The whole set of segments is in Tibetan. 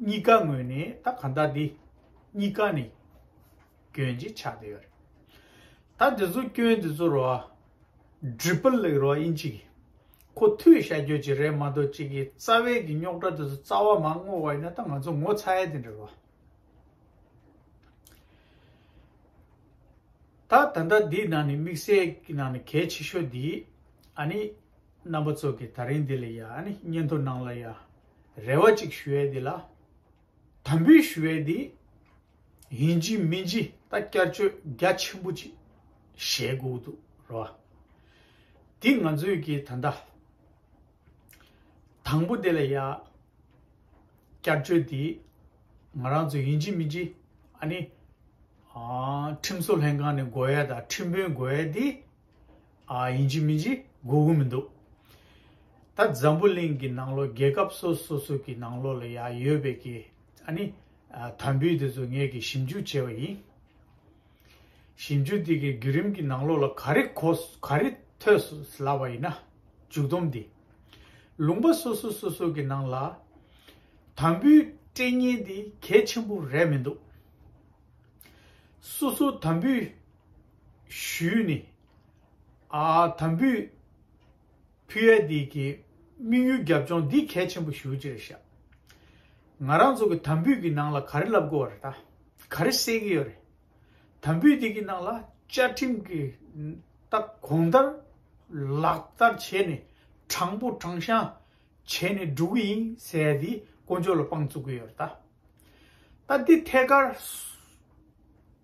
གཉིས་ཀ་ངོས་ནས་ད་གང་ལྟ་དེ་གཉིས་ཀ་ནས་སྐྱོན་གྱི་ཆ་དེ་ཡོད་རེད་ད་དེ་ཚོ་སྐྱོན་དེ་ཚོར་བ་འགྲིག་པ་ལེགས་རོགས་ཨིན་ཅིག་ཁོ་མཐུད་ཤ་རྒྱོད་ཅིག་རེད་མ་གཏོགས་གཅིག་གི་རྩ་བའི་གི་རྙོག་དྲ་དེ་ཚོ་རྩ་བ་མ་བསྔོག་བ་ཡིན་ན་ད་ང་ཚོ་ངོ་ཚ་ཡས་དེ་འདྲ་རོགས། ད་ད་ལྟ་དེའི་ནང་ནས་དམིགས་བསལ་གི་ནང་ནས་གལ་ཆེ་ཤོས་དེ་ཨ་ནི་རྣམ་པ་ཚོ་གི་ད་རིང་དེ་ལ་ཡ་ཨ་ནི་སྙན་ཐོ་ནང་ལ་ཡ་རེ་བ་ཅིག་ཞུ་ཡས་འདི་ལ། དམ་འབུལ་ཞུ་ཡས་འདི། ཡིན་གྱི་མིན་གྱི་ད་བསྐྱར་བཅོས་རྒྱ་ཆེན་པོ་ཅིག་བྱས་དགོས་འདུག་རོ། འདི་ང་ཚོས་ཀྱི་ད་ལྟ། དང་པོ་འདི་ལ་ཡ། བསྐྱར་བཅོས་འདི། ང་རང་ཚོ་ཡིན་གྱི་མིན་གྱི་ཨ་ནི། ཁྲིམས་བཟོ་ལྷན་ཁང་ནས་འགོ་ཡས་དང་ཁྲིམས་དཔོན་འགོ་ཡས་འདི། ཡིན་གྱི་མིན་གྱི་དགོས་དགོས་མི་འདུག་ད་འཛམ་བུ་གླིང་གི་ནང་ལོ་རྒྱལ་ཁབ་སོ་སོ་སོ་གི་ནང་ལོ་ལ་ཡང་ཡོད་པའི་གི་ཨ་ནི་དམ་བུའི་དེ་ཚོ་ངས་གི་ཞིབ་འཇུག་བྱས་པ་ཡིན། ཞིབ་འཇུག་དེ་གི་བརྒྱུད་རིམ་གི་ནང་ལོ་ལ་ག་རེ་གོ་ག་རེ་ཐོས་སོ་ལབ་པ་ཡིན་ན་མཇུག་བསྡོམས་འདི། ལུང་པ་སོ་སོ་སོ་སོ་གི་ནང་ལ་དམ་བུའི་སྐྲན་གཉན་འདི་གལ་ཆེན་པོ་རེད་མི་འདུག། སོ་སོ་དམ་བུའི། ཞུས་ནས། དམ་འབུལ། བྷི་ཨེ་ལྡི་ཀྱི་དམིགས་ཡུལ་རྒྱབ་ལྗོངས་འདི་གལ་ཆེན་པོ་ཞུ་ཅེས་བཤད། ང་རང་ཚོ་གི་དམ་འབུལ་གྱི་ནང་ལ་ག་རེ་ལབ་དགོས་བ་རེད་ད། ག་རེ་སེལ་གྱི་ཡོད་རེད། དམ་འབུལ་འདི་གི་ནང་ལ་བཅའ་ཁྲིམས་ཀྱི་ལྟག་གོང་ལྟར་ལག་བསྟར་བྱས་ནས་དྲང་པོ་དྲང་བཞག་བྱས་ནས་འགྲོ་གི་ཡིན་ཟེར་ཡ་དེ་དཀོན་མཆོག་ལ་དཔང་བཙུགས་གི་ཡོད་རེད་ད། ད་འདི་ཐད་ཀར།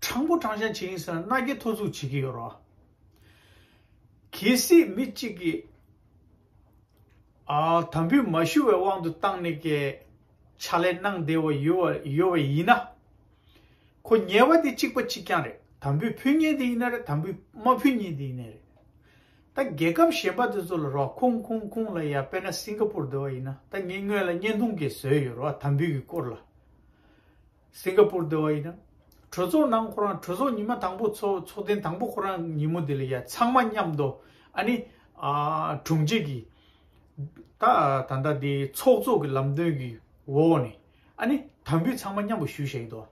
དྲང་པོ་དྲང་བཞག་བྱེད་ཡིན་ཟེར་ན་མནའ་སྐྱེལ་ཐོ་འཛུགས་བྱེད་ཀྱི་ཡོད་རོགས། གལ་སྲིད་མི་གཅིག་གིས། དམ་འབུལ་མ་ཞུ་བའི་དབང་དུ་བཏང་ནས་ཀྱི། ཕྱག་ལས་གནང་བདེ་བ་ཡོད་བ་ཡིན་ན། ཁོ་ཉལ་བ་དེ་གཅིག་པ་གཅིག་རྐྱང་རེད་དམ་འབུལ་ཕུལ་ཉེན་དེ་ཡིན་ན་རེད་དམ་འབུལ་མ་ཕུལ་ཉེན་དེ་ཡིན་ནའི་རེད། ད་རྒྱལ་ཁབ་གཞན་པ་དེ་ཚོ་ལ་རོགས་ཁུངས་ཁུངས་ཁུངས་ལ་ཡ་དཔེར་ན་སིང་ཀ་པུར་དེ་བ་ཡིན་ན་ད་ངས་སྔོན་ལ་བརྙན་ཐུང་གིས་བཟོས་ཡོད་རོགས་དམ་འབུལ་གྱི་སྐོར་ལ། སིང་ག་པུར་སྡེ་བ་ཡིན། གྲོས་ཚོགས་ནང་ཁོ་རང་གྲོས་ཚོགས་ཉི་མ་དང་པོ་ཚོགས་ཚོགས་ཐེངས་དང་པོ་ཁོ་རང་ཉིན་མོ་དེ་ལ་ཡ་ཚང་མ་མཉམ་དུ་ཨ་ནི་དྲུང་ཆེ་གི་ད་ད་ལྟ་དེ་ཚོགས་གཙོ་གི་ལམ་སྟོན་གི་འོག་ནས་ཨ་ནི་དམ་འབུལ་ཚང་མ་མཉམ་པོ་ཞུ་བཞེས་ཡོད་དོ་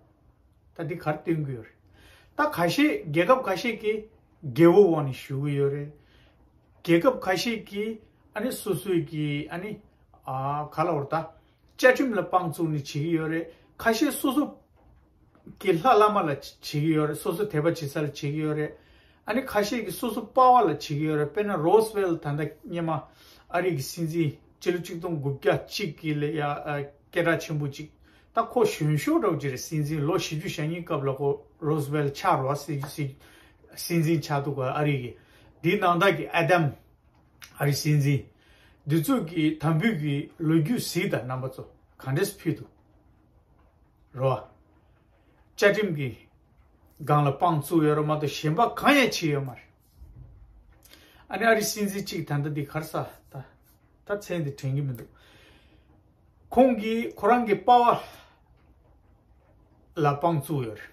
ད་དེ་གར་སྟོན་གི་ཡོད་རེད་ད་ག་ཤེད་རྒྱལ་ཁབ་ག་ཤེད་ཀྱི་རྒྱལ་བོ་འོག་ནས་ཞུ་གི་ཡོད་རེད་རྒྱལ་ཁབ་ག་ཤེད་ཀྱི་ཨ་ནི་སོ་སོའི་གི་ཨ་ནི་ག་ལ་བོར་ད། བཅའ་ཁྲིམས་ལ་དཔང་བཙུགས་ནས་བྱེད་ཀྱི་ཡོད་རེད་ཁ་ཤས་སོ་སོ། གི་ལྷ་བླ་མ་ལ་བྱེད་ཀྱི་ཡོད་རེད་སོ་སོ་དད་པ་བྱེད་ས་ལ་བྱེད་ཀྱི་ཡོད་རེད། ཨ་ནི་ཁ་ཤས་ཀྱི་སོ་སོ་དཔའ་བ་ལ་བྱེད་ཀྱི་ཡོད་རེད་དཔེར་ན་རོས་བེལ་ད་ལྟ་སྙེ་མ་ཨ་རིག་གི་སྲིད་འཛིན་སྤྱི་ལོ་གཅིག་སྟོང་དགུ་བརྒྱ་གཅིག་གི་ལ་ཡ་སྐད་གྲགས་ཆེན་པོ་གཅིག་ད་ཁོ་གཞོན་ཤོག་གྲོགས་ཀྱི་རེད་སྲིད་འཛིན་ལོ་བཞི་བཅུ་ཞེ་གཉིས་སྐབས་ལ་ཁོ་རོས་བེལ་ཆགས་རོ་སྲིད་འཛིན་ཆགས་འདུག་ག་ཨ་རིག་གི་དེའི་ནང་དག་གི་ཨ་དམ། ཨ་རིའི་སྲིད་འཛིན་འདི་ཚོས་ཀྱི་དམ་འབུལ་གྱི་ལོ་རྒྱུས་གཟིགས་དང་རྣམ་པ་ཚོ་གང་འདྲས་སུ་ཕུད་འདུག་རོ། བཅའ་ཁྲིམས་ཀྱི་སྒང་ལ་དཔང་བཙུགས་ཡོད་ར་མ་གཏོགས་གཞན་པ་གང་ཡང་བྱས་ཡོད་མ་རེད། ཨ་ནི་ཨ་རིའི་སྲིད་འཛིན་གཅིག་ད་ལྟ་འདི་གར་ས་ད་ད་མཚན་དེ་དྲན་གྱི་མི་འདུག་ཁོང་གིས་ཁོ་རང་གི་དཔའ་བ་ལ་དཔང་བཙུགས་ཡོད་རེད།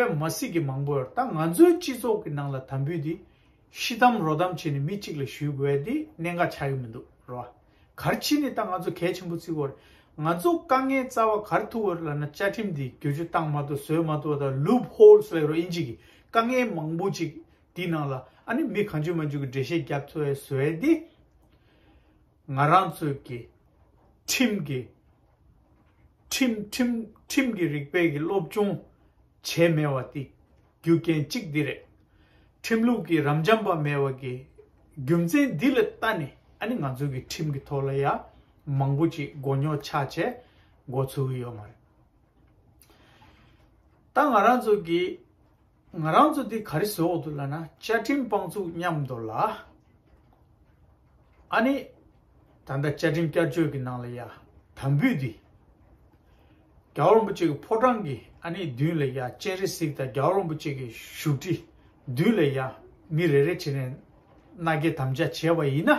པད་མ་སྲིད་ཀྱི་མང་པོ་ཡོད་ད་ང་ཚོའི་སྤྱི་ཚོགས་ཀྱི་ནང་ལ་དམ་འབུལ་དེ་ཤི་དམ་རོ་དམ་བྱས་ནས་མི་གཅིག་ལ་ཞུས་དགོས་དེ་གནད་འགག་ཆགས་ཀྱི་མི་འདུག་རོ་ཨ། གར་ཕྱིན་ནས་ད་ང་ཚོ་གལ་ཆེན་པོ་བརྩི་དགོས་རེད་ང་ཚོ་དཀའ་ངལ་རྩ་བ་གར་ཐུག་གོ་རེད་ལབ་ན་བཅའ་ཁྲིམས་དེ་བསྒྱུར་བཅོས་བཏང་མ་ཐུབ་བཟོས་མ་ཐུབ་དང་ལུབ་ཧོལ་སོགས་ཡོད་རེད་ཨིན་ཇི་གི་དཀའ་ངལ་མང་པོ་ཅིག་དེའི་ནང་ལ་ཨ་ནི་མི་གང་བྱོས་མ་བྱོས་ཀྱི་འགྲེལ་བཤད་རྒྱབ་འཚོལ་བས་བཟོས་དེ། ང་རང་ཚོས་ཀྱི་ཁྲིམས་ཀྱི་ཁྲིམས་ཁྲིམས་ཁྲིམས་ཀྱི་རིགས་པས་ཀྱི་སློབ་སྦྱོང་བྱས་མེད་བ་དེ་རྒྱུ་རྐྱེན་གཅིག་འདི་རེད། ཁྲིམས་ལུགས་ཀྱི་རམ་འབྱམས་པ་མེད་བ་ཀྱི་རྒྱུ་མཚན་འདི་ལ་ལྟ་ནས་ཨ་ནི་ང་ཚོས་ཀྱི་ཁྲིམས་ཀྱི་ཐོག་ལ་ཡ་མང་པོ་ཅིག་མགོ་རྙོག་ཆགས་བྱས་མགོ་ཚུགས་ཡོད་མ་རེད། ད་ང་རང་ཚོས་ཀྱི་ང་རང་ཚོ་འདི་ག་རེ་ཟོ་འོག་ཏུ་ལ་ན་བཅའ་ཁྲིམས་དཔང་བཙུགས་སྙམ་འདོར་ལ། ཨ་ནི། ད་ལྟ་བཅའ་ཁྲིམས་བསྐྱར་བཅོས་ཀྱི་ནང་ལ་ཡ་དམ་བུས་འདི། རྒྱ་བ་རོན་པོ་ཆེ་གི་ཕོ་བྲང་གི་ཨ་ནི་མདུན་ལ་ཡ་སྤྱན་རས་གཟིགས་དང་རྒྱ་བ་རོན་པོ་ཆེ་གི་བཞུགས་ཁྲི་མདུན་ལ་ཡ་མི་རེ་རེ་བྱས་ནས་མནའ་སྐྱེལ་དམ་བཅའ་བྱས་པ་ཡིན་ན།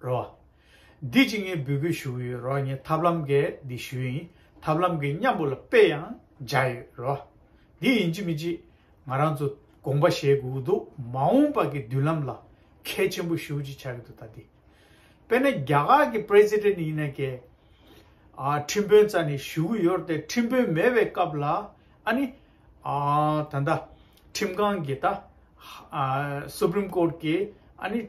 རོ། འདི་ཅི་ངས་འབུལ་དགོས་ཞུ་ཡོད་རོ་ངས་ཐབས་ལམ་འགའི་འདི་ཞུ་ཡིན་ཐབས་ལམ་འགའི་མཉམ་པོ་ལ་དཔེ་ཡང་སྦྱར་ཡོད་རོ། འདི་ཡིན་ཅི་མི་ཅི་ང་རང་ཚོ་དགོངས་པ་བཞེས་དགོས་ཀྱི་འདུག་མ་འོངས་པ་གི་མདུན་ལམ་ལ་གལ་ཆེན་པོ་ཞུ་ཅི་བྱ་གི་འདུག་ད་འདི་དཔེ་ན་རྒྱ་གར་གི president ཡིན་ན་ཀྱེ། ཨ་ཁྲིམས་དཔོན་རྩ་ནས་ཞུ་གི་ཡོད་དེ་ཁྲིམས་དཔོན་མེད་པའི་སྐབས་ལ་ཨ་ནི། ད་ལྟ་ཁྲིམས་ཁང་གི་ད་ཧ supreme court གི་ཨ་ནི།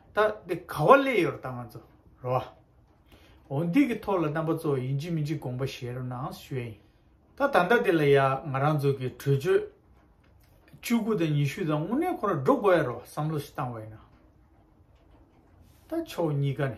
ད་འདི་ག་བ་ལས་ཡོད་ར་ད་ང་ཚོ་ར་བ། འོ་འདི་གི་ཐོག་ལ་རྣམ་པ་ཚོ་ཡིན་གཅིག་མིན་གཅིག་དགོངས་པ་བཞེས་རོགས་གནང་ཞུས་ཡིན། ད་ད་ལྟ་འདི་ལ་ཡ་ང་རང་ཚོ་གི་གྲོས་ཆོད་བཅུ་དགུ་དང་ཉི་ཤུ་དང་དངོས་གནས་ཁོ་ར་འགྲོ་དགོས་ཡ་རོགས་བསམ་བློ་ཞིག་བཏང་བ་ཡིན་ན། ད་ཕྱོགས་གཉིས་ཀ་ནས།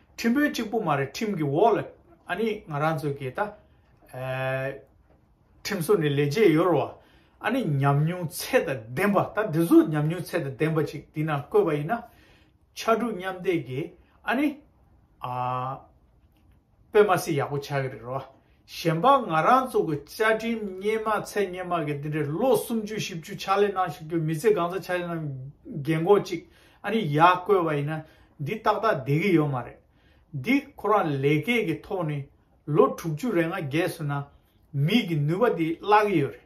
ཁྲིམས་དཔོན་གཅིག་པོ་མ་རེད་ཁྲིམས་ཀྱི་འོག་ལ་ཨ་ནི་ང་རང་ཚོའི་གི་ད་ཁྲིམས་སོ་ནི་ལས་བྱེད་ཡོད་རོ་ཨ་ནི་ཉམས་མྱོང་ཚད་དང་ལྡན་པ་ད་འདི་ཚོ་ཉམས་མྱོང་ཚད་དང་ལྡན་པ་ཅིག་འདི་ན་བཀོད་པ་ཡིན་ན་ཕྱར་གྲུ་མཉམ་བསྡེབས་ཀྱི་ཨ་ནི་ཨ་པེ་མ་སི་ཡག་པོ་ཆགས་གི་རེད་རོ་ཨ། གཞན་པ་ང་རང་ཚོ་གི་བཅའ་ཁྲིམས་སྙན་མ་ཚད་སྙན་མ་གི་འདི་འདྲའི་ལོ་སུམ་ཅུ་བཞི་བཅུ་ཕྱག་ལས་གནང་ཞིག་རྒྱུ་མི་ཚེ་གང་ས་ཆ་ནས་རྒན་གོག་ཅིག་ཨ་ནི་ཡག་བསྐོས་བ་ཡིན་ན་འདི་ཏག་ཏག་བསྡད་གི་ཡོད་མ་རེད། འདི་ཁོ་རང་ལས་ཀའི་གི་ཐོག་ནས་ལོ་དྲུག་ཅུ་རེ་ང་བརྒྱད་སོན་ན་མིག་གི་ནུས་པ་འདི་བརླག་གི་ཡོད་རེད།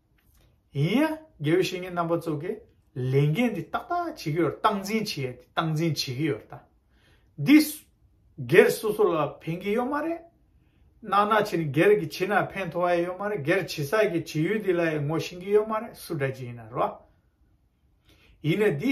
ཡིན་ཡང་དགེ་བའི་བཤེས་གཉེན་རྣམ་པ་ཚོ་གིས་ལས་འགན་འདི་ཏག་ཏག་བྱེད་ཀྱི་ཡོད་རེད་སྟངས་འཛིན་བྱེད་ཡས་སྟངས་འཛིན་བྱེད་ཀྱི་ཡོད་རེད། འདི་སྒེར་སོ་སོ་ལ་ཕན་གྱི་ཡོད་མ་རེད། ནང་ན་བྱེད་སྒེར་གྱི་བྱེད་ན་ཕན་ཐོག་ཡས་ཡོད་མ་རེད་སྒེར་བྱེད་ས་ཀྱི་བྱེད་ཡུལ་འདི་ལ་ཡས་ངོ་ཤེས་ཀྱི་ཡོད་མ་རེད་སུ་འདྲ་བྱེད་ཡིན་ན་རོ། ཡིན་ན་འདི་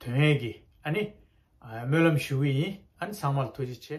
དོན་ཨེ་གི་ཨ་ནི། སྨོན་ལམ་ཞུ་གི་ཡིན་ཨ་ནི་ཚང་མར་ཐུགས་རྗེ་ཆེ།